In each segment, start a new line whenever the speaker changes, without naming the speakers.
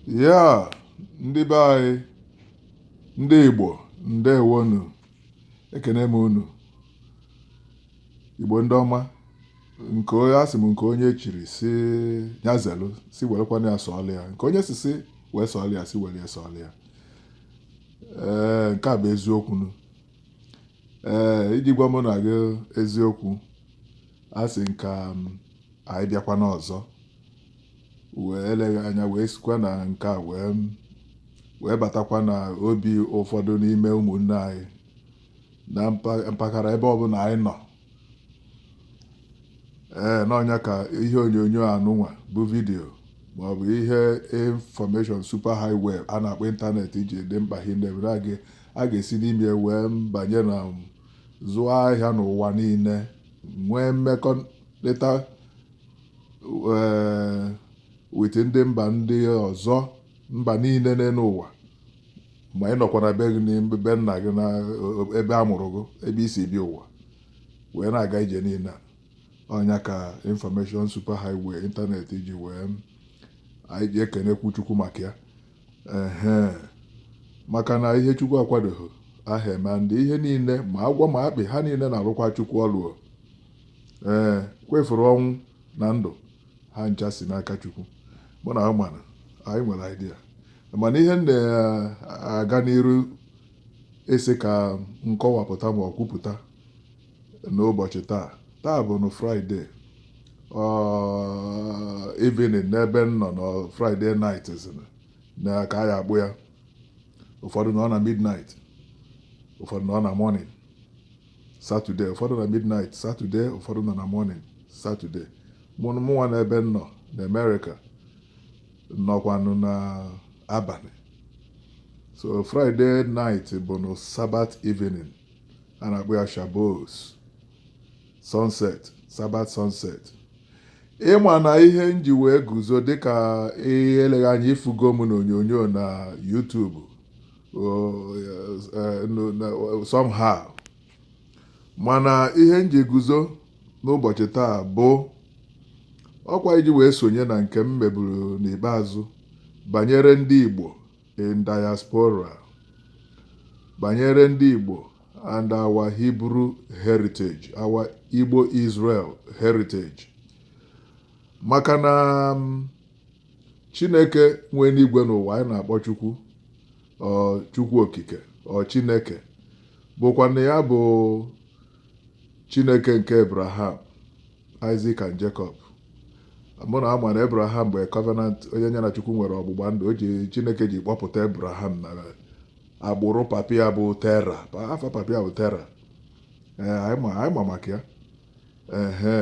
Yeah, ndị be anyị, ndị Igbo, ndewonu, ekene m unu. Igbo ndị ọma, nke onye asị m nke onye chiri si nya zelu si werekwana ya sọọlụ ya nke onye si si wee sọọlụ ya si were ya sọọlụ ya ee nke a bụ eziokwu nu ee iji gwa mụ na gị eziokwu a sị m ka anyị bịakwa n'ọzọ wee eleghị anya wee sikwa na nke a wee batakwa na obi ụfọdụ n'ime ụmụnne anyị na mpa- mpaghara ebe ọbụla anyị nọ ee na ọ nya ka ihe onyonyo anụnwa bụ vidiyo maọbụ ihe information super highway a na-akpọ ịntanetị ji dị mkpa hinne mere a ga- a ga-esi n'ime ya wee banye na um, zụọ ahịa n'ụwa niile nwee mmekọrịta ee with ndị mba ndị ọzọ mba niile n'elu ụwa ma ị nọkwa na be gị n'ime be nna gị na e- ebe a mụrụ gị ebe i si bịa ụwa wee na-aga ije niile a. ọ nya ka information super highway ịntanetị ji wee anyị ji ekenekwu chukwu maka ya ehe maka na ihe chukwu akwadoghị aha eme ndị ihe niile ma agwọ ma akpị ha niile na-arụkwa chukwu ọlụ o. ee kwefuru ọnwụ na ndụ ha ncha si n'aka Chukwu mụ na mana anyị nwere idea mana ihe m na-aga n'iru asị ka m kọwapụta ma ọ kwupụta n'ụbọchị taa taa bụ na Friday evening n'ebe m nọ na Friday night na ka anyị akpọ ya ụfọdụ nọ na midnight ụfọdụ nọ na morning Saturday, ụfọdụ na midnight Saturday, ụfọdụ nọ na morning Saturday. Mụ- Mụnwa na ebe m nọ na America nọkwanụ na abalị. So Friday night bụ na Sabbath evening a na-akpọ ya Shabbos sunset Sabbath sunset. Ị ma na ihe m ji wee guzo dịka eleghị anya ị fụgo m n'onyonyo na YouTube somehow. mana ihe m ji guzo n'ụbọchị taa bụ ọkwa iji wee sonye na nke m meburu n'ikpeazụ banyere ndị Igbo in diaspora banyere ndị Igbo and our Hebrew heritage our Igbo Israel heritage maka na mm, chineke nwe enuigwe na ụwa anyị na-akpọ chukwu chukwu okike ọ chineke bụkwanụ ya bụ chineke nke abraham isaac and jacob mụ na ị ma na abraham bụ covenant onye ya na chukwu nwere ọgbụgba ndụ o ji chineke ji kpọpụta abraham n'agbụrụ papa ya bụ tera afa papa ya bụ tera anyị ma maka ya ehe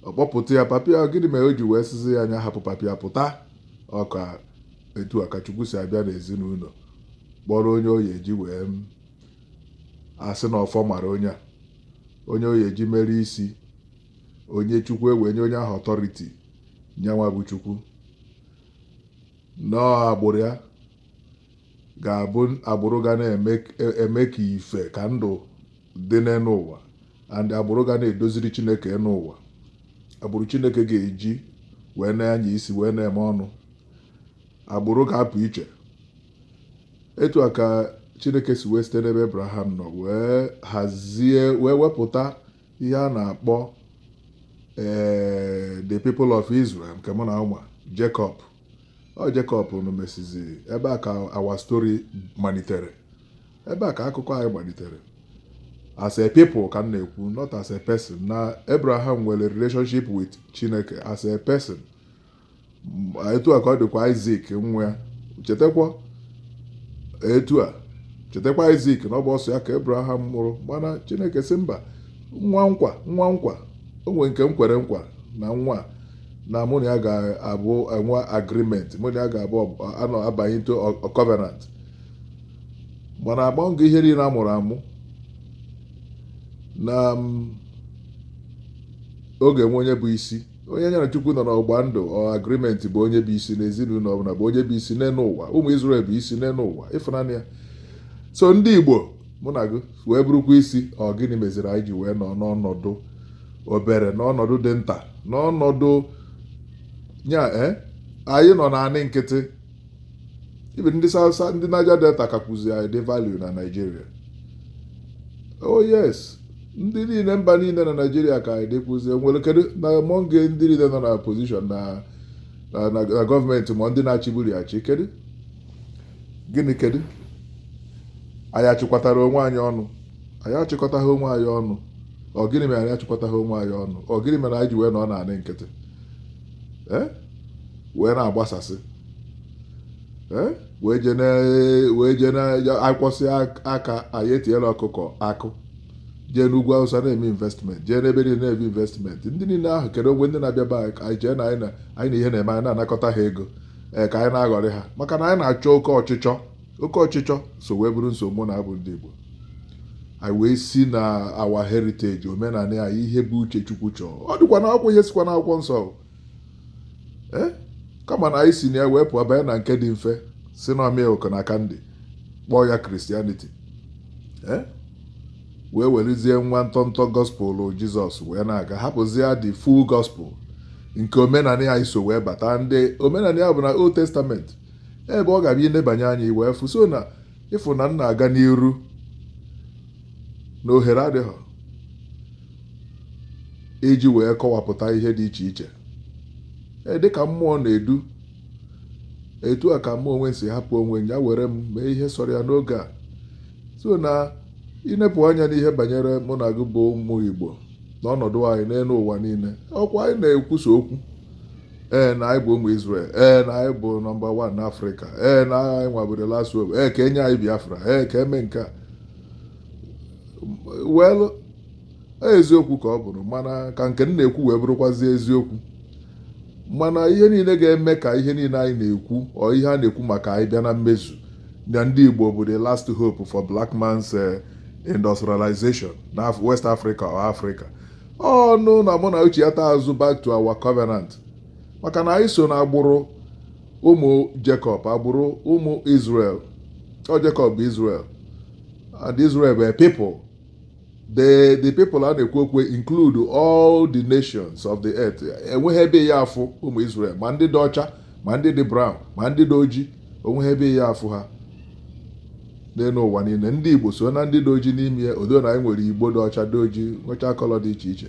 ọ kpọpụta ya papa ya gịnị mere o ji wee sịzi ya nya hapụ papa ya pụta ọ kwa etu a ka chukwu si abịa n'ezinụlọ kpọrọ onye ọ ya-eji wee asị na ọfọ mara onye a onye ọ ya-eji mere isi onye chukwu ewee nye onye ahụ authority nyanwa bụ chukwu na ọ agbụrụ ya ga-abụ agbụrụ ga na-eme ka ife ka ndụ dị n'elu ụwa and agbụrụ ga na-edoziri Chineke elu ụwa agbụrụ Chineke ga-eji wee na-anya isi wee na-eme ọnụ agbụrụ ga-apụ iche etu a ka Chineke si wee site n'ebe Abraham nọ wee hazie wee wepụta ihe a na-akpọ ee the people of Israel nke mụ na ị ma Jacob ọ Jacob nụ mesizi ebe a ka our story malitere ebe a ka akụkọ anyị malitere as a people ka m na-ekwu not as a person na Abraham nwere relationship with Chineke as a person etu a ka ọ dịkwa Isaac nwa ya chetakwa etu a chetakwa Isaac na ọ bụrọ sọ ya ka Abraham mụrụ mana Chineke sị mba nwa nkwa nwa nkwa o nwere nke m kwere nkwa na nwa na mụ na ya ga-abụ enwe agreement mụ na ya ga-abụ anọ abanye into covenant mana agbanyeghị ihe niile a mụrụ amụ na ọ ga-enwe onye bụ isi onye nya na chukwu nọ n'ọgba ndụ or agreement bụ onye bụ isi n'ezinụlọ ọbụla bụ onye bụ isi n'elu ụwa ụmụ Israel bụ isi n'elu ụwa ị fụna nya so ndị Igbo mụ na gị wee bụrụkwa isi ọ gịnị meziri anyị ji wee nọ n'ọnọdụ obere n'ọnọdụ dị nta n'ọnọdụ nya eh, anyị nọ n'anị nkịtị even ndị South ndị Niger Delta kakwuzi anyị dị value na Nigeria oh yes ndị niile mba niile na Nigeria ka anyị dịkwuzi enwere kedu na among ndị niile nọ na position na na government ma ndị na-achịburu ya achị kedu gịnị kedu anyị achịkọtarọ onwe anyị ọnụ anyị achịkọtaghị onwe anyị ọnụ ọ gịnị mere anyị achịkọtaghị onwe anyị ọnụ ọ gịnị mere anyị ji wee nọ n'anị nkịtị ee eh? wee na-agbasasị eh? wee je na wee je na akwọsị aka anyị etinyela ọkụkọ akụ jee n'ugwu Awụsa na-eme investment jee n'ebe niile na-eme investment ndị niile ahụ kedu ogbe ndị na-abịa be anyị chee na anyị na anyị na ihe na-eme anyị na-anakọta ha ego ee eh, ka anyị na-aghọrị ha maka na anyị na-achọ oke ọchịchọ oke ọchịchọ so wee bụrụ nsogbu na abụ ndị Igbo anyị wee si na our heritage omenala anyị ihe bụ uche Chukwu chọọ ọ dịkwa na akwụkwọ ihe sikwa na akwụkwọ nsọ ee kama na anyị si na ya wee pụọ banye na nke dị mfe sị na ọ milk na candy kpọọ ya Christianity ee wee werezie nwa ntọntọ gospel Jizọs wee na-aga hapụzie the full gospel nke omenala anyị so wee bata ndị omenala ya bụ na old testament ebe ọ ga-abụ inebanye anya i wee fụ so na ịfụ na m na-aga n'iru na ohere adịghị iji wee kọwapụta ihe dị iche iche ee dịka mmụọ na-edu etu a ka mụ onwe m si hapụ onwe m ya were m mee ihe sọrọ ya n'oge a so na inepụ anya n'ihe banyere mụ na gị bụ ụmụ Igbo na ọnọdụ anyị n'elu ụwa niile ọkwa anyị na-ekwusa okwu ee na anyị bụ ụmụ Israel ee na anyị bụ number one n'Africa ee na anyị nwa bụ the last hope ee ka enye anyị Biafra ee ka eme nke a well eziokwu ka ọ bụrụ mana ka nke m na-ekwu wee bụrụkwazi eziokwu mana ihe niile ga-eme ka ihe niile anyị na-ekwu or ihe a na-ekwu maka anyị bịa na mmezu na ndị Igbo bụ the last hope for black man's eh, industrialization na West Africa or Africa ọ bụ na mụ na gị chighata azụ back to our covenant maka na anyị so na agbụrụ ụmụ Jacob agbụrụ ụmụ Israel ọ Jacob bụ Israel and Israel were people the the people a na-ekwu okwu include all the nations of the earth enweghị ebe ị ya afụ ụmụ Israel ma ndị dị ọcha ma ndị dị brown ma ndị dị ojii onweghị ebe ị ya afụ ha n'elu ụwa niile ndị Igbo so na ndị dị oji n'ime ya although na anyị nwere Igbo dị ọcha dị oji nwechaa colour dị iche iche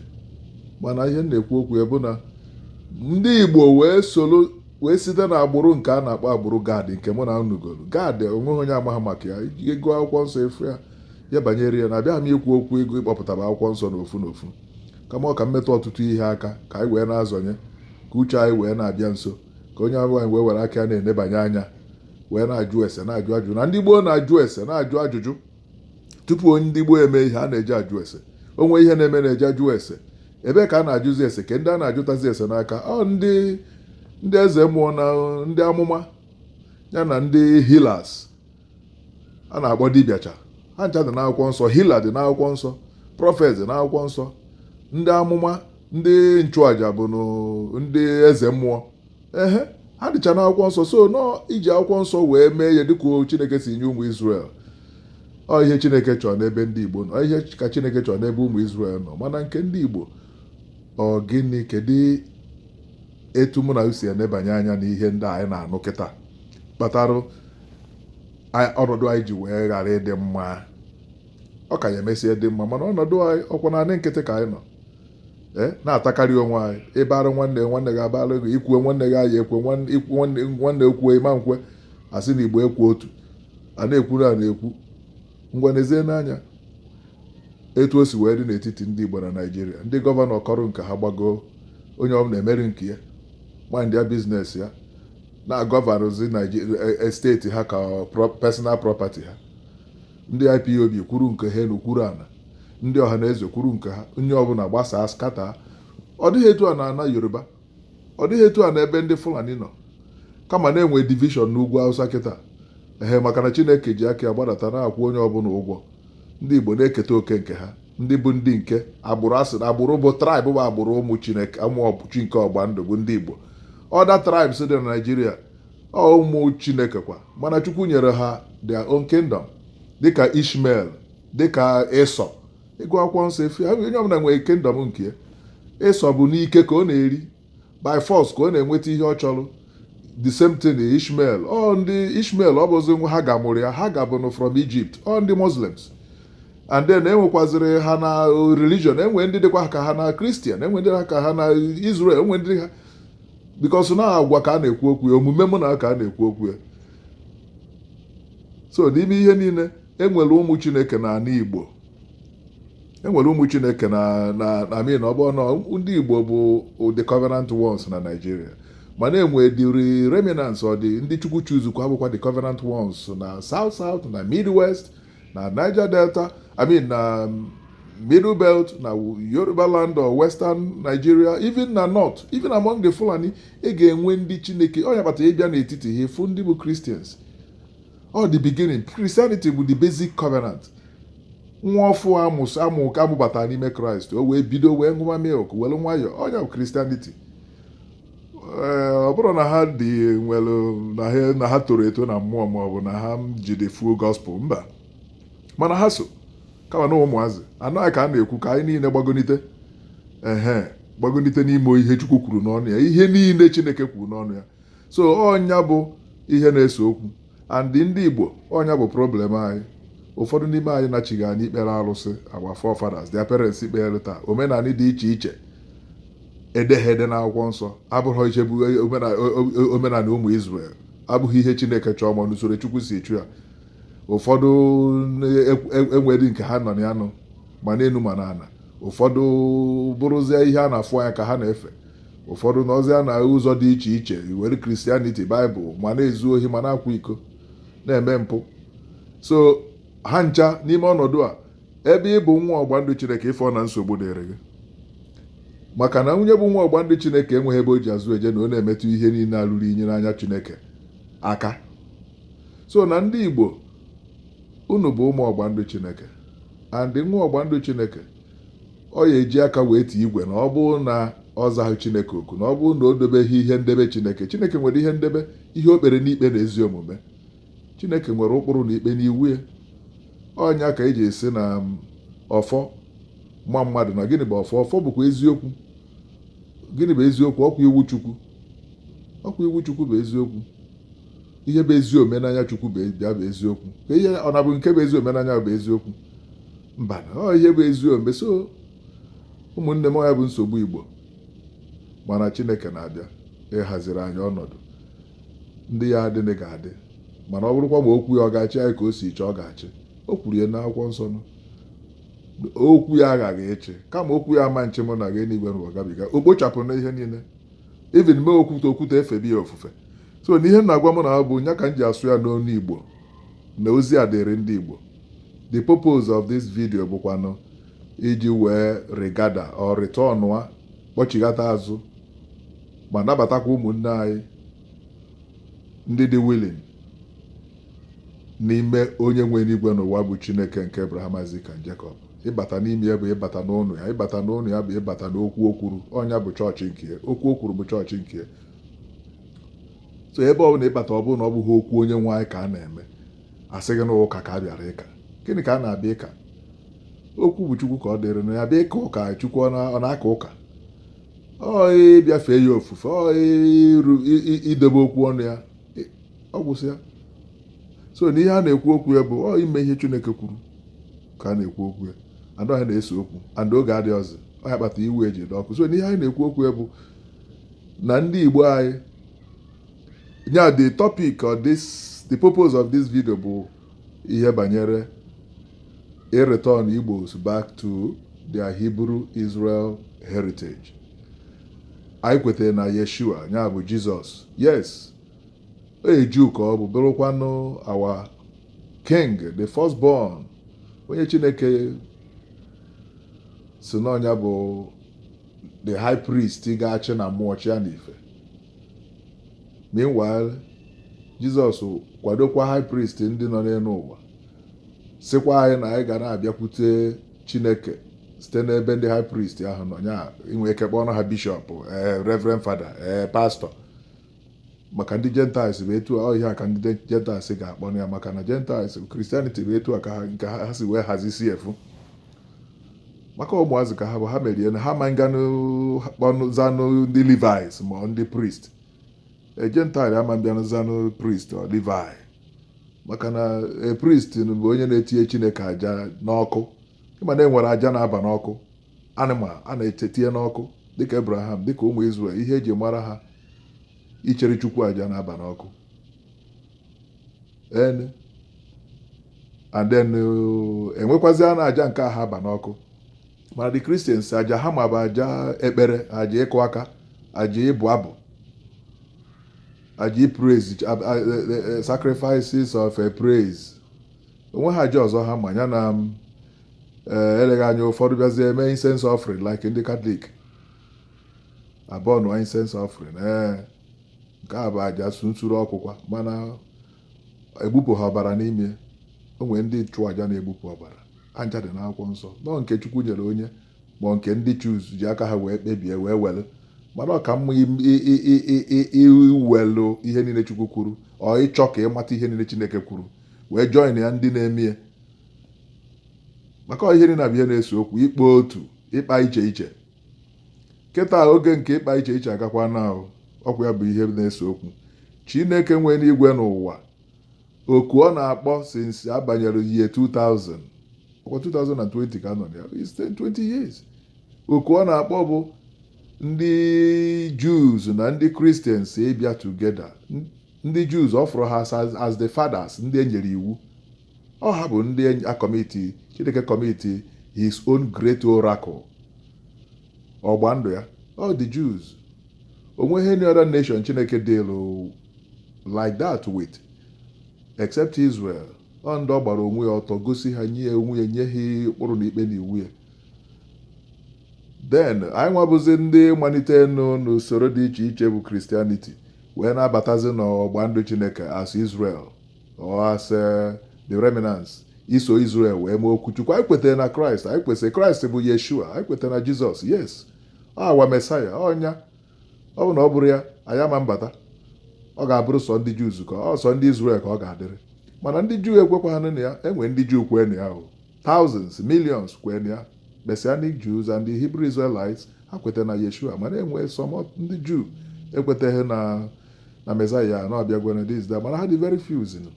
mana ihe m na-ekwu okwu ya bụ na ndị Igbo wee soro wee site na agbụrụ nke a na-akpọ agbụrụ Gad nke mụ na unu gụlụ Gad onweghị onye amaghị maka ya ịgụ akwụkwọ nsọ ịfụ ya ihe banyere ya na abịaghị m ikwu okwu ịgụ ịkpọpụtara akwụkwọ nsọ n'ofu n'ofu kama ọ ka m metụ ọtụtụ ihe aka ka anyị wee na-azọnye ka uche anyị wee na-abịa nso ka onye ọbụla wee were aka ya na-enebanye anya wee na-ajụ ese na-ajụ ajụjụ na ndị gboo na-ajụ ese na-ajụ ajụjụ tupu onye ndị gboo eme ihe a na-eje ajụ ese o nwee ihe na-eme a na-eje ajụ ese ebe ka a na-ajụzi ese kee ndị a na-ajụtazi ese n'aka ọ ndị ndị eze mmụọ na ndị amụma ya na ndị healers a na-akpọ dibịacha ha ncha dị n'akwụkwọ nsọ healer dị n'akwụkwọ nsọ prophet dị n'akwụkwọ nsọ ndị amụma ndị nchụaja bụ ndị eze mmụọ ehe ha dịcha n'akwụkwọ nsọ so nọ iji akwụkwọ nsọ wee mee ihe dịka chineke si nye ụmụ Israel ọ ihe chineke chọrọ n'ebe ndị igbo nọ ihe ka chineke chọrọ n'ebe ụmụ Israel nọ mana nke ndị igbo ọ gịnị kedu etu mụ na unu si enebanye anya n'ihe ndị anyị na-anụ kịta kpatara ọnọdụ anyị ji wee ghara ịdị mma ọ ka ya emesịa dị mma mana ọnọdụ anyị ọkwa naanị nkịtị ka anyị nọ ee na-atakarị onwe anyị ịbara nwanne nwanne gị abara gị ikwue nwanne gị anyị ekwe nwanne ekwue ịma nkwe asị na igbo ekwu otu a na-ekwuru a na-ekwu ngwa nezie n'anya etu o si wee dị n'etiti ndị igbo na naijiria ndị gọvanọ kọrọ nke ha gbagoo onye ọbụla emeri nke ya mind ya business ya na-agọvanzi e, e, steeti ha ka personal property ha ndị IPOB kwuru nke ha enu kwuru ana ndị Ọhanaeze kwuru nke ha onye ọbụla gbasaa scatter ọ dịghị etu a n'ana yoruba ọ dịghị etu a na ebe ndị fulani nọ kama na-enwe division n'ugwu awụsa kịta ehe maka na chineke ji aka ya gbadata na-akwụ onye ọbụla ụgwọ ndị igbo na-eketa oke nke ha ndị bụ ndị nke agbụrụ asị na agbụrụ bụ tribe bụ agbụrụ ụmụ chineke ụmụ chi nke ọgba ndụ bụ ndị igbo other tribes dị na naijiria ọ ụmụ chineke kwa mana chukwu nyere ha their own kingdom dịka ishmael dịka ịsọ ịgụ akwụkwọ nsọ ịfụ onye ọbụla nwere kingdom nke ya ịsọ bụ n'ike ka ọ na-eri by force ka ọ na-enweta ihe ọ chọrọ the same thing Ishmael ọ ndị Ishmael ọ bụzi nwa Hagar mụrụ ya Hagar bụnụ from Egypt ọ ndị Muslims and then enwekwazịrị ha na religion enwe ndị dịkwa ka ha na Christian enwe ndị ha ka ha na Israel enwe ndị ha because na agwa ka a na-ekwu okwu ya omume mụ na ka a na-ekwu okwu ya so n'ime ihe niile enwere ụmụ Chineke na ala Igbo e nwere ụmụ chineke na na na i mean ọ bụrụ na ndị igbo bụ the covenant ones na naijiria mana enwedịrị remnants ọ dị ndị chukwu chuzukwa abụkwa the covenant ones na south south na midwest na niger delta i mean na um, middle belt na yoruba land or western nigeria even na north even among the fulani ị ga-enwe ndị chineke ọ ya kpata ịbịa n'etiti ha ịfụ ndị bụ christians ọ the beginning Christianity bụ the basic covenant nwa ọfụụ amụrụ amụ ka amụbatara n'ime kraịst o wee bido wee ṅụwa milk were nwayọọ ọ nya bụ Christianity ee ọ bụrọ na ha dị nwere na ha na ha toro eto na mmụọ ma ọ bụ na ha ji the full gospel mba mana ha so kama na ụmụazị anaghị ka a na-ekwu ka anyị niile gbagonite ehe gbagonite n'ime ihe chukwu kwuru n'ọnụ ya ihe niile chineke kwuru n'ọnụ ya so ọ nya bụ ihe na-ese okwu and ndị Igbo ọ nya bụ problem anyị ụfọdụ n'ime anyị nachigha n'ikpere arụsị our forefathers their parents kpereta omenala dị iche iche edeghị ede n'akwụkwọ nsọ abụghị ihe bụ omenala ụmụ Israel abụghị ihe Chineke chọọ ma n'usoro Chukwu si chọọ ya ụfọdụ enwedịghị nke ha nọ na ya nọ ma n'elu ma n'ala ụfọdụ bụrụzie ihe a na-afụ anya ka ha na-efe Ụfọdụ nọzịa n'ụzọ dị iche iche iwere Christianity, Bible, ma na-ezu ohi ma na-akwa iko, na-eme mpụ. So ha ncha n'ime ọnọdụ a, ebe ị bụ nwa ọgba ndụ Chineke ị fụ na nsogbu dịrị gị. Maka na onye bụ nwa ọgba ndụ Chineke enweghị ebe o ji azụ eje na ọ na-emetụ ihe niile a rụrụ inyi n'anya Chineke aka. So na ndị Igbo, unu bụ ụmụ ọgba ndụ Chineke and nwa ọgba ndụ Chineke ọ ya-eji aka wee tie igwe na ọ bụrụ na ọ zaghị chineke oku na ọ bụrụ na o dobeghị ihe ndebe chineke chineke nwere ihe ndebe ihe o kpere n'ikpe na ezi omume chineke nwere ụkpụrụ na ikpe n'iwu ya ọ nya ka e ji asị na um, ọfọ ma mmadụ na gịnị bụ ọfọ ọfọ bụkwa eziokwu gịnị bụ eziokwu ọ kwa iwu chukwu ọ kwa iwu chukwu bụ eziokwu ihe bụ ezi omume n'anya chukwu bụ ya bụ eziokwu ka ihe ọ na-abụ nke bụ ezi omume n'anya bụ eziokwu mba na ọ ihe bụ ezi omume so ụmụnne m ọ ya bụ nsogbu igbo mana chineke na-abịa ịhaziri anyị ọnọdụ ndị ya adịghị ga-adị mana ọ bụrụkwa ma okwu ya ọ ga-achị anyị ka o si chọọ ọ ga-achị o kwuru ya n'akwụkwọ nsọ na okwu ya aghaghị ịchị kama okwu ya ama-achị mụ na gị enigwe na ụwa gabiga o kpochapụ na ihe niile even mee okwute okwute efebe ya ofufe so na ihe m na-agwa ụmụnna bụ nya ka m ji asụ ya n'onu igbo na ozi a dịrị ndị igbo the purpose of this video bụkwanụ iji wee regather or return a kpọchighata azụ ma nabatakwa ụmụnne anyị ndị dị willing n'ime onye nwe enigwe na ụwa bụ chineke nke abraham isaac and jacob ịbata n'ime ya bụ ịbata n'ụnọ ya ịbata n'ụnọ ya bụ ịbata n'okwu o kwuru ọ nya bụ chọọchị nke ya okwu o kwuru bụ chọọchị nke ya so ebe ọ bụla ị bata ọ bụrụ na ọ bụghị okwu onye nwe anyị ka a na-eme a sị gị na ụka ka a bịara ịka gịnị ka a na-abịa ịka okwu bụ chukwu ka ọ dịrị na ya bịa ịka ụka chukwu ọ na-aka ụka ọ ịbịa fee ya ofufe ọ idebe okwu ọnụ ya ọ gwụsịa so na ihe a na-ekwu okwu ya bụ ọ ime ihe Chineke kwuru ka a na-ekwu okwu ya and ọ ya na-ese okwu and oge adịrọzi ọ ya kpata iwu eji dị ọkụ so n'ihe anyị na-ekwu okwu ya bụ na ndị Igbo anyị nya the topic or this the purpose of this video bụ ihe banyere ịreturn Igbos back to their Hebrew Israel heritage anyị kwetara na Yeshua nya bụ Jizọs yes a Jew ka ọ bụ bụrụkwanụ our King, the first born, onye Chineke sị na ọ nya bụ the high priest ga-achị na mmụọ chịa n'ife. Meanwhile, Jizọs kwadokwa high priest ndị nọ n'elu ụwa sịkwa anyị na anyị ga na-abịakwute Chineke site n'ebe ndị high priest ahụ nọ nya i nwe ike kpọọ ha bishop ee reverend father ee pastor maka ndị Gentiles bụ etu a ọ ihe a ka ndị Gentiles ga-akpọ ya maka na Gentiles Christianity bụ etu a ka ha nke ha ha si wee hazisi efu maka ụmụazị ka ha bụ ha merie na ha ma nganụ kpọnụ zanụ ndị Levites ma ọ ndị priest a Gentile ama mbịanụ zanụ priest or Levi maka na a priest bụ onye na-etinye chineke aja n'ọkụ ị ma na e nwere aja na-aba n'ọkụ animal a na-eche tinye n'ọkụ dịka Abraham dịka ụmụ Israel ihe e ji mara ha ichere Chukwu aja na-aba n'ọkụ enu and then uh, e nwekwazia na aja nke aha aba n'ọkụ mana the Christians aja ha ma bụ aja ekpere aja ịkụ aka aja ịbụ abụ aja praise sacrifices of a praise o nweha aja ọzọ ha ma ya na eh, eleghị anya ụfọdụ bịazie eme incense offering like ndị Catholic aburnụọ incense offering ee nke a bụ aja su- nsuru ọkụkwa mana egbupụha ọbara n'ime o nwere ndị nchụaja na-egbupụ ọbara ha ncha dị n'akwụkwọ nsọ nọ nke chukwu nyere onye ma nke ndị choose ji aka ha wee kpebie wee were mana ọ ka mma im- i- i- i- i- i- iwelụ ihe niile chukwu kwuru or ịchọ ka ịmata ihe niile chineke kwuru wee join ya ndị na-eme ya maka ihe niile bụ ihe na-ese okwu ịkpa otu ịkpa iche iche kịta oge nke ịkpa iche iche agakwanụ ọkwa ya bụ ihe na-ese okwu chineke nwe enigwe na ụwa oku ọ na-akpọ since a banyere year 2000 ọkwa 2020 ka a nọ ya 20 years oku ọ na-akpọ bụ ndị Jews na ndị Christians ịbịa together Ndị Jews ọ fụrụ ha as, as the fathers, ndị e nyere iwu. Ọ ha bụ ndị a commit, Chineke commit his own great oracle, ọgba ndụ ya. Ọ the Jews. O nweghị any other nation Chineke deal like that with except Israel. Ọ ndị ọ gbara onwe ya ọtọ gosi ha nye onwe ya nye ha ụkpụrụ na ikpe na iwu ya. den anyị nwabụzi ndị malite nụ n'usoro dị iche iche bụ christianity wee na-abatazi n'ọgba ndụ chineke as israel or as eh, the remnants iso israel wee mee okwu chukwu anyị kwetara na kraịst anyị kwesịrị kraịst bụ yeshua anyị kwetara na jizọs yes our mesaya ọ nya ọ bụ na ọ bụrụ ya anyị ama mbata ọ ga-abụrụ sọ ndị jews ka ọ sọ ndị israel ka ọ ga-adịrị mana ndị juu ekwekwaghị na ya e nwe ndị juu kwee na ya o Thousands, millions kwee na ya. Messianic Jews and the Hebrew Israelites ha kweta na Yeshua mana e nwe some of ndị Jew ekwetaghị na na Messiah na ọ bịagwere this that mana ha dị very few zinu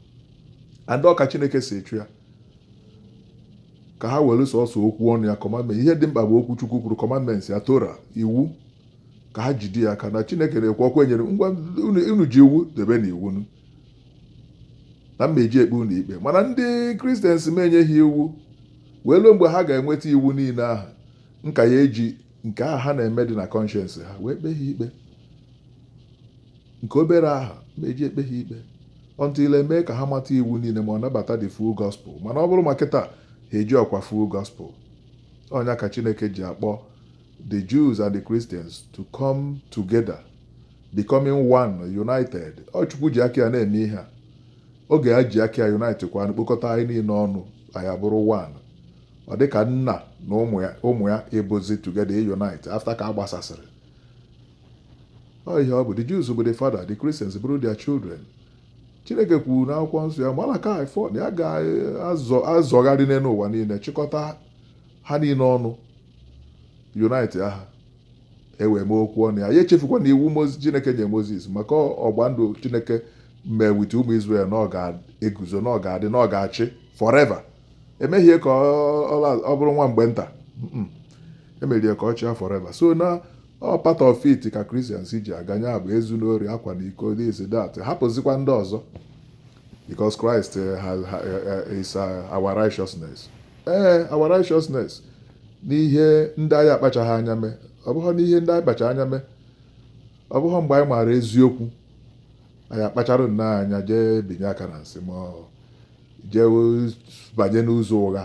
and ọ ka Chineke si achọ ya ka ha were sọsọ okwu ọnụ ya commandment ihe dị mkpa bụ okwu Chukwu kwuru commandments ya Torah iwu ka ha jide ya aka na Chineke na-ekwu ọ kwa e nyere ngwa unu unu ji iwu debenụ iwu nụ na m eji ekpe unu ikpe mana ndị christians m enyeghị iwu wee ruo mgbe ha ga-enweta iwu niile ahụ m ka ya-eji nke ahụ ha na-eme dị na conscience ha wee kpee ha ikpe nke obere ahụ m eji ekpe ha ikpe until e mee ka ha mata iwu niile ma ọ nabata the full gospel mana ọ bụrụ ma kịta ha ejirọkwa full gospel ọ nya ka chineke ji akpọ the jews and the christians to come together Becoming One, United. Ọ Chukwu ji aka ya na-eme ihe a. Oge ya ji aka ya unite kwanụ kpokọta anyị niile ọnụ, anyị abụrụ one. Ọ dị ka nna na ụmụ ya ụmụ ya ịbụzi together ịunite after ka a gbasasịrị. Ọ ihe ọ bụ. The Jews bụ the father, the Christians bụrụ their children. Chineke kwuru n'akwụkwọ nsọ ya Malakai 4 na ya ga-azọ azọgharị n'elu ụwa niile chịkọta ha niile ọnụ unite ha e wee mee okwu ọnụ ya ya echefukwana iwu Mozis Chineke nye Mozis maka ọgba ndụ Chineke mee with ụmụ Izrel na ọ ga-eguzo na ọ ga-adị na ọ ga-achị forever e meghị ya ka ọ bụrụ nwa mgbe nta e mere ya ka ọ chịa forever so na ọ part of it ka Christians ji aga nya bụ ezuna ori akwana iko this that hapụzikwa ndị ọzọ because Christ is our righteousness ee our righteousness n'ihe ndị anyị akpachaghị anya mee ọ bụghị n'ihe ndị anyị kpacha anya mee ọ bụghị mgbe anyị maara eziokwu anyị akpachara nnọọ anya jee binye aka na sin ma jee banye n'ụzọ ụgha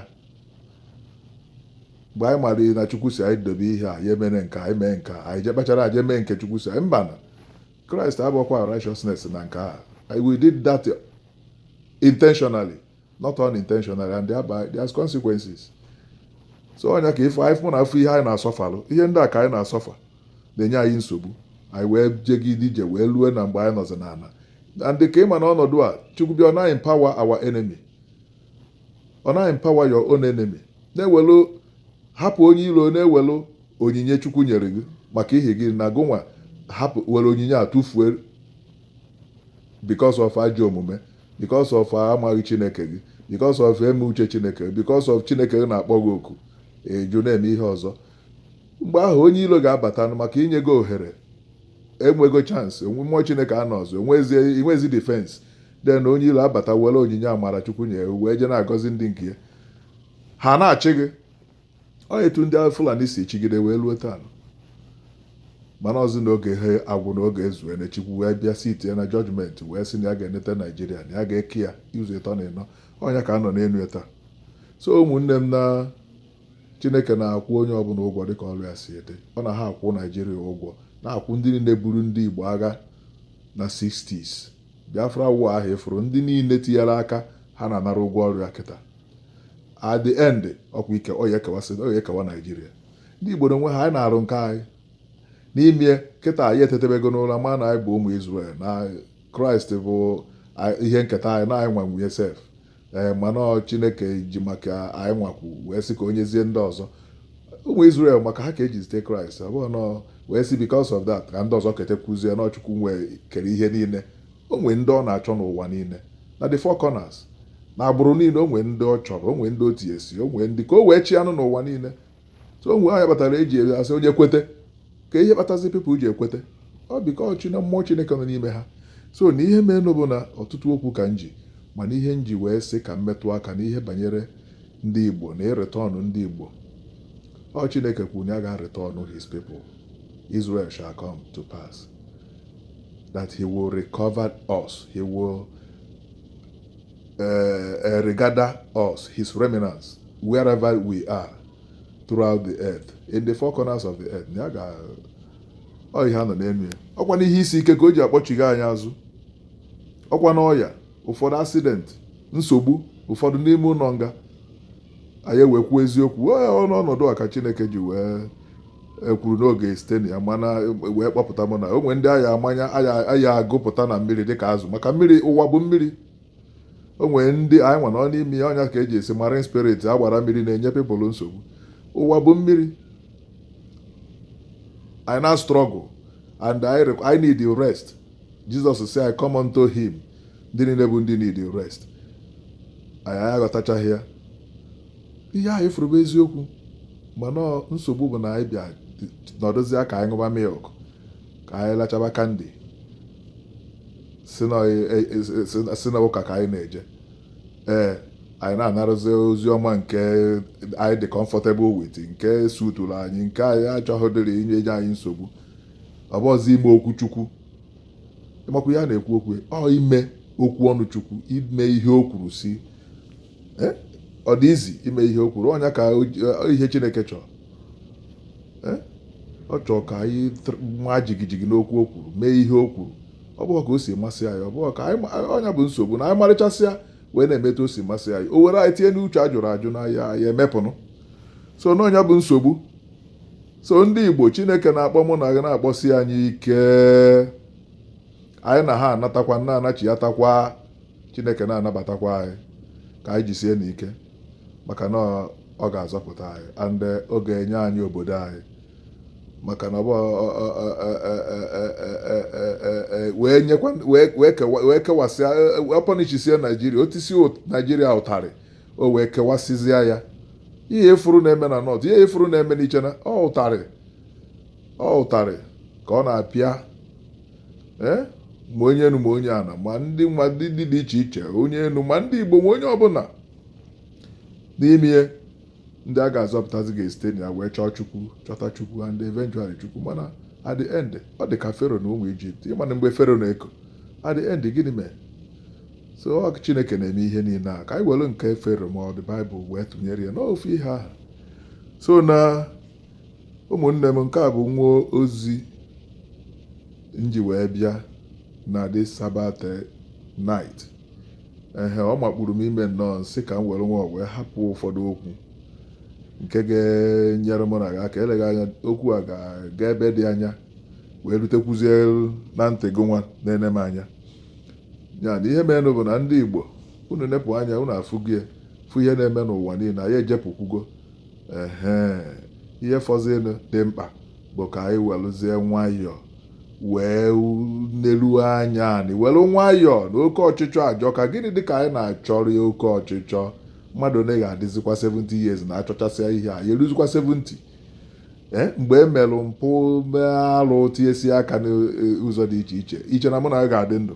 mgbe anyị mara na chukwu sị anyị dobe ihe a ya emere nke anyị mee nke anyị jee kpachara anya mee nke chukwu sị anyị mba na kraịst abụọkwa righteousness na nke a we did that intentionally not unintentional and thereby there's consequences so ọnya ka ife anyị fụ na afọ ihe anyị na-asọfalụ ihe ndị a ka anyị na-asọfa na-enye anyị nsogbu anyị wee jegide ije wee lue na mgbe anyị nọzi n'ala and ka ịma na ọnọdụ a chukwu bịa ọ na-empower our enemy ọ na-empower your own enemy na-ewelu hapụ onye ilo na-ewelu onyinye chukwu nyere gị maka ihi na gụnwa hapụ were onyinye a tụfuo because of ajọ omume because of amaghị Chineke gị because of eme uche Chineke because of Chineke gị na-akpọ gị oku ị jụ na-eme ihe ọzọ mgbe ahụ onye ilo ga-abata maka i nyego ohere enwego chance mmụọ Chineke anọ ọzọ i nwezi defense then onye ilo abata were onyinye amara Chukwu nye wee je na-agọzi ndị nke ya ha na-achị gị Ọ etu ndị a Fulani si chịgide wee lue taa nụ. mana ọzị na oge ha agwụ na oge ezue na Chukwu wee bịa sitie na judgment wee sị na ya ga-eneta Naijiria na ya ga-eke ya ụzọ ịtọ na ịnọ ọnya ka a nọ n'enu ya taa so ụmụnne m na Chineke na-akwụ onye ọbụla ụgwọ dịka ọrụ ya si dị ọ na ha akwụ Naijiria ụgwọ na-akwụ ndị niile buru ndị Igbo agha na 60s Biafra war ahụ ị fụrụ ndị niile tinyere aka ha na-anara ụgwọ ọrụ ya kịta at the end ọkwa ike ọ ya ekewa sị ọ ya ekewa Naijiria ndị Igbo na onwe ha anyị na-arụ nke anyị n'ime kịta anyị etetebego n'ụra ma na anyị bụ ụmụ Israel na Kraịst bụ a- ihe nketa anyị na anyị nwenụ ya sef ee mana ọ chineke ji maka anyị nwakwu wee sị ka o nyezie ndị ọzọ ụmụ Israel maka ha ka e ji zite kraịst ọ bụghị nọọ wee sị because of that ka ndị ọzọ ketekwuzie na ọ chukwu nwee kere ihe niile o nwee ndị ọ na-achọ n'ụwa niile na the four corners na agbụrụ niile o nwee ndị ọ chọrọ o nwee ndị o tinyesi o nwee ndị ka o wee chi anụ n'ụwa niile so onwe anya kpatara e ji asị onye kwete ka ihe kpatazi people ji ekwete ọ because na mmụọ chineke nọ n'ime ha so na ihe meenụ bụ na ọtụtụ okwu ka nji mana ihe nji wee sị ka m metụ aka na ihe banyere ndị igbo na ịretọnụ ndị igbo ọ chineke kwuru na ya ga-retọnụ his people israel shall come to pass that he will recover us he will uh, uh, regather us, his remnants, wherever we are throughout the earth, in the four corners of the earth. Ya ga ọ ihe a nọ n'enu ya. Ọkwa n'ihe isi ike ka o ji akpọchigha anyị azụ. Ọkwa n'ọya, ụfọdụ accident, nsogbu, ụfọdụ n'ime ụnọ nga. anyị wee kwuo eziokwu ọnụ ọnọdụ a ka chineke ji wee kwuru n'oge site na ya mana wee kpọpụta m na o nwere ndị a ya a ya-agụpụta na mmiri dịka azụ maka mmiri ụwa bụ mmiri o nwere ndị anyị nwa nọ n'ime ya ọ nya ka e ji asị marine spirit agbara mmiri na-enye people nsogbu ụwa bụ mmiri anyị na-struggle and anyị need rest Jizọs sị anyị come unto him ndị niile bụ ndị need rest anyị aghọtachaghị ya ihe anyị fụrụ bụ eziokwu mana nsogbu bụ na anyị bịa nọdụzi ka anyị ṅụba milk ka anyị lachaba candy sị na e, e, e, ụka ka anyị na-eje ee anyị na-anarụzi ozi ọma nke anyị dị comfortable with nke suturu anyị nke anyị achọghịdịrị inye anyị nsogbu ọ bụghịzi ime okwu chukwu ịmakwa ya na-ekwu okwu ọ ime okwu ọnụ chukwu ime ihe o kwuru sị eh, ọ dị izi ime ihe o kwuru ọ nya ka eh, ihe chineke chọrọ eh, ọ chọọ ka anyị maa jigijigi n'okwu o kwuru mee ihe o kwuru ọ bụghị ka o si masị anyị ọ bụghị ka ọ nya bụ nsogbu na anyị marịchasịa wee na-eme etu o si masị anyị o were anyị tinye n'uche a jụrụ ajụ na ya ya emepụnụ so na ọ nya bụ nsogbu so ndị igbo chineke na-akpọ mụ na gị na-akpọsi anyị ike anyị na ha anatakwa na-anachiatakwa chineke na-anabatakwa anyị ka anyị jisienụ ike maka na ọ ga-azọpụta anyị and ọ ga-enye anyị obodo anyị maka na wee kewasịa ọ punishisie naijiria o tisie naijiria ụtarị o wee kewasịzịa ya ihe ị fụrụ na-eme na north ihe ị fụrụ na-eme n'east na ọ ụtarị ọ ụtarị ka ọ na-apịa ee ma onye enu ma onye ana ma ndị ma ndị ndị dị iche iche onye enu ma ndị igbo ma onye ọbụla n'ime ihe ndị a ga-azọpụtazi ga-esite na ya wee chọọ chukwu chọta chukwu and eventually chukwu mana at the end ọ dị ka fero na ụmụ ijipt ị ma na mgbe fero na-eko at the end gịnị mere so ọ bụ chineke na-eme ihe niile a ka anyị were nke fero ma ọ dị baịbụl wee tụnyere ya n'ofu ihe ahụ so na ụmụnne m nke a bụ nwa ozi m ji wee bịa na this sabbath night ehe ọ makpuru m ime nnọọ m sị ka m were nwayọ wee hapụ ụfọdụ okwu nke ga-enyere mụ na gị aka eleghị anya okwu a ga-aga ebe dị anya wee rutekwuzie na ntị gị nwa na-ene m anya ya na ihe merenụ bụ na ndị Igbo unu nepụ anya unu afụgie fụ ihe na-eme n'ụwa niile anyị ejepụkwugo ehe ihe fọzinụ dị mkpa bụ ka anyị weluzie nwayọọ wee neruo anya anyị were nwayọọ na oke ọchịchọ ajọka gịnị dị ka anyị na-achọrọ ya oke ọchịchọ mmadụ na ga-adịzikwa 70 years na-achọchasịa ihe a ya eruzikwa 70 Eh, mgbe e merụ mpụ mee arụ tinyesi aka n'ụzọ eh, dị iche iche iche na mụ na ya ga-adị ndụ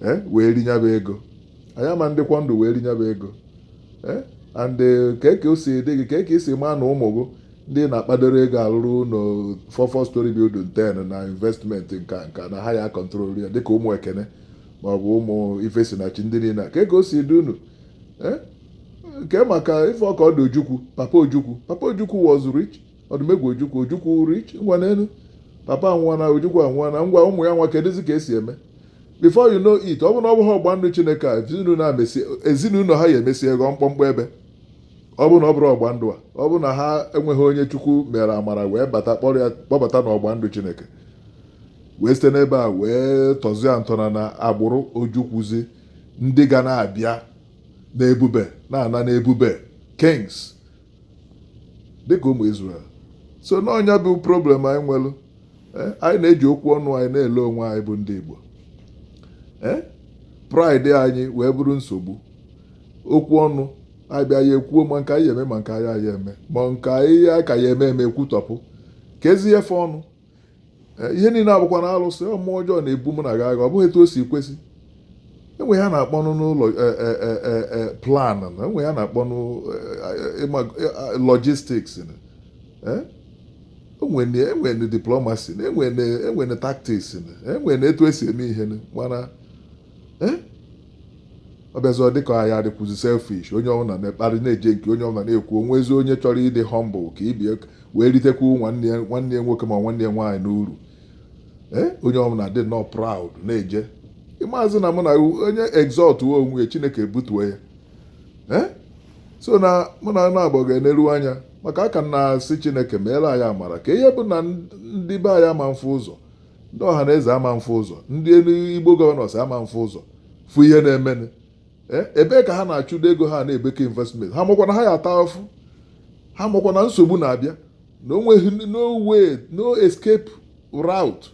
eh, wee rie nya bụ ego anyị ama ndịkwa ndụ wee rie nya bụ ego and kee ka o si dị gị kee ka i si maa na ụmụ gị ndị na-akpadoro ego alụrụ ụlọ four four storey building 10 na investment nka nka na ha ya control ya dịka ụmụ Ekene maọbụ ụmụ Ifesinachi ndị niile ka ego o si dị unu kee maka ife ọka ọdụ ojukwu papa ojukwu papa ojukwu was rich ọdụmegwu ojukwu ojukwu rich ngwa neenụ papa anwụọna ojukwu anwụọna ngwa ụmụ ya nwa kedụzi ka esi eme before you know it ọ bụ na ọ bụghị ọgba ndụ chineke a ezinụlọ a mesie ezinụlọ ha ya emesie ghọọ mkpọmkpọ ebe ọ bụ na ọ bụrụ ọgba ndụ a ọ bụ na ha enweghị onye chukwu mere amara wee bata kpọrọ ya kpọbata n'ọgba ndụ chineke wee site n'ebe a wee tọzie ntọana na agbụrụ ojukwuzi ndị ga na-abịa na ebube na-ana na ebube kings dịka ụmụ Israel so na ọ nya bụ problem anyị nwere eh, anyị na-eji okwu ọnụ anyị na-ele onwe anyị bụ ndị Igbo eh, pride anyị wee bụrụ nsogbu okwu ọnụ anyị bịa ya ekwuo ma nke anyị ya eme ma nke anyị aya eme ma nke anyị ka ya eme eme ekwutọpụ ka ezi efe ọnụ ihe niile abụkwa na alụsị mmụọ ọjọọ na-ebu mụ na gị agha ọ bụghị etu o si kwesị enwe ihe a na-akpọnụ e, e, e, plan na enwe ihe a na-akpọnụ logistics enwere diplomacy na enwere tactics na enwere etu esi eme ihe mana ọ bịazi ọ dịka anyị adịkwuzi selfish onye ọbụla na-ekparị na-eje nke onye ọbụla na-ekwu onwezi onye chọrọ ịdị humble ka ibe ya wee ritekwu nwanne ya nwanne ya nwoke ma nwanne ya nwaanyị n'uru ee onye ọbụla dịnụ proud na-eje ịmaazị na mụ na onye exaltụọ onwe ya chineke ebutuo ya ee so na mụ na naabọ ga-eneru anya maka a ka na-asị chineke meere anyị amara ka ọ ya abụ na ndị be anyị ama mfụ ụzọ ndị ọha na eze ama mfụ ụzọ ndị enu Igbo governors ama mfụ ụzọ fụ ihe na-emenụ e, ebee ka ha na-achụdo ego ha na-ebeke investment ha makwa na ha ya ata afụfụ ha makwa na nsogbu na-abịa na onweghị no way no escape route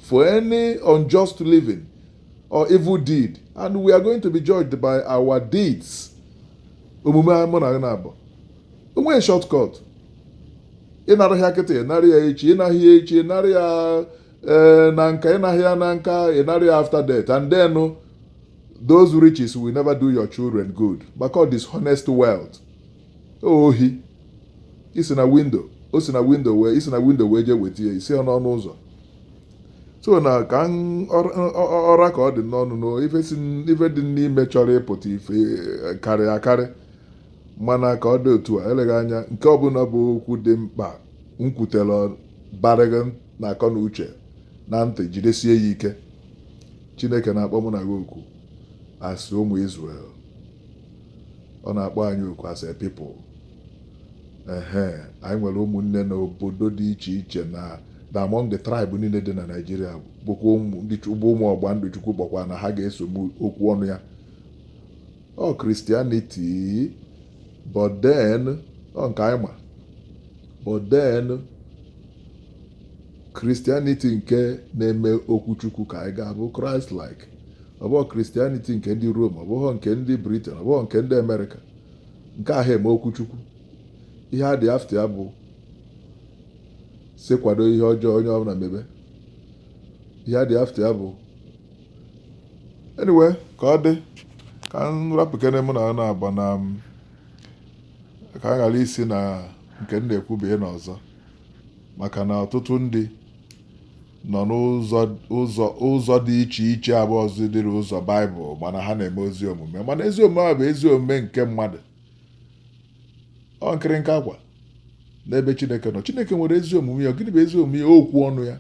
for any unjust living or evil deed and we are going to be judged by our deeds omume mụ na gị na-abụ o nweghị shortcut ịnara ya kịta ịnara ya echi ịnaghị ya echi ịnara ya ee eh, na nka ịnaghị ya na nka ịnara ya after death and then oh, those riches will never do your children good because dishonest wealth ohi isi na window o si na window wee isi na window wee jee weta ya isi n'ọnụ ụzọ so na ka ọ ra ka ọ dị n'ọnụ na ife dị n'ime chọrọ ịpụta ife eh, karịa akarị mana ka ọ dị otu a eleghị anya nke ọbụla bụ okwu dị mkpa m kwutere bara gị na akọ na uche na ntị jidesie ya ike chineke na-akpọ mụ na gị oku as ụmụ Israel ọ na-akpọ anyị oku as a people ehe anyị nwere ụmụnne na obodo dị iche iche na na among the tribe niile dị na Naịjirịa bụkwa ụmụ ọgba ndụ Chukwu kpọkwa na ha ga-eso m okwu ọnụ ya ọ Christianity but then ọ nke anyị ma but then Christianity nke na-eme okwu Chukwu ka anyị ga-abụ Christ like ọ bụghị Christianity nke ndị Rome ọ bụghị nke ndị Britain ọ bụghị nke ndị America nke ahụ eme okwu Chukwu ihe a dị after ya bụ sị kwado ihe ọjọọ onye ọbụla mebe ihe a dị after ya bụ anyway ka ọ dị ka m rapụkene mụ na ọ na-agba na ka m ghara isi na nke m na-ekwu baa n'ọzọ maka na ọtụtụ ndị nọ n'ụzọ ụzọ ụzọ dị iche iche abụ ọzọ dịrị ụzọ baịbụl mana ha na-eme ezi omume mana ezi omume ahụ bụ ezi omume nke mmadụ ọ nkịrịnka akwa n'ebe chineke nọ chineke nwere ezi omume ya gịnị bụ ezi omume ya okwu ọnụ ya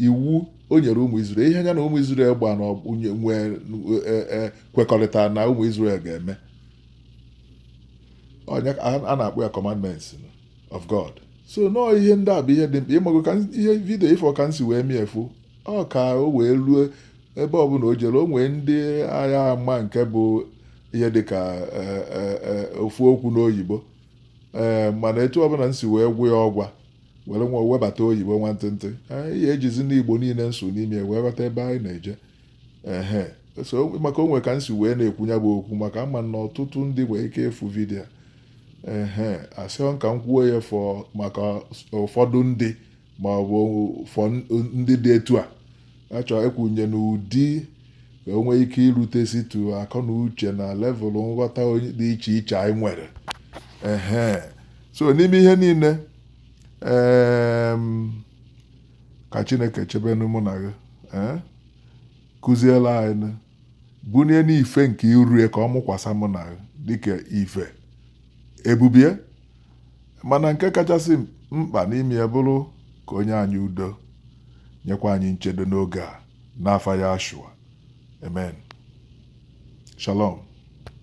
iwu o nyere ụmụ Izrel ihe ya na ụmụ Izrel gba na nwee e, e, kwekọrịta na ụmụ Izrel ga-eme a na-akpọ ya commandments of God so nọọ ihe ndị a bụ ihe dị mkpa ịmago ka ihe video ịfụ ka m si wee mie efu ọ ka o wee ruo ebe ọbụla o jere o nwee ndị ga-ama nke bụ ihe dị ka e, ofu okwu n'oyibo ee mana etu ọbụla m si wee gwa ya ọgwa were nwa webata oyibo nwantịntị ihe ejizi n'igbo niile m sụ n'ime wee ghọta ebe anyị na-eje ehe so maka onwe ka m si wee na-ekwu ya bụ okwu maka ama m na ọtụtụ ndị nwere ike ịfụ video ehe asị ọ ka m kwuo ya for maka ụfọdụ ndị ma ọ bụ for ndị dị etu a achọ ịkwụnye n'ụdị ka o nwee ike irutesitụ akọ na uche na level nghọta onye- dị iche iche anyị nwere ehe so n'ime ihe niile em, ka chineke chebenu mụ na gị eh? kụziela anyị nụ. bunienu ife nke iru ya ka ọ mụkwasa mụ na gị dịka ife ebube ya mana nke kachasị mkpa n'ime ya bụrụ ka o nye anyị udo nyekwa anyị nchedo n'oge a n'afa yahshua amen shalom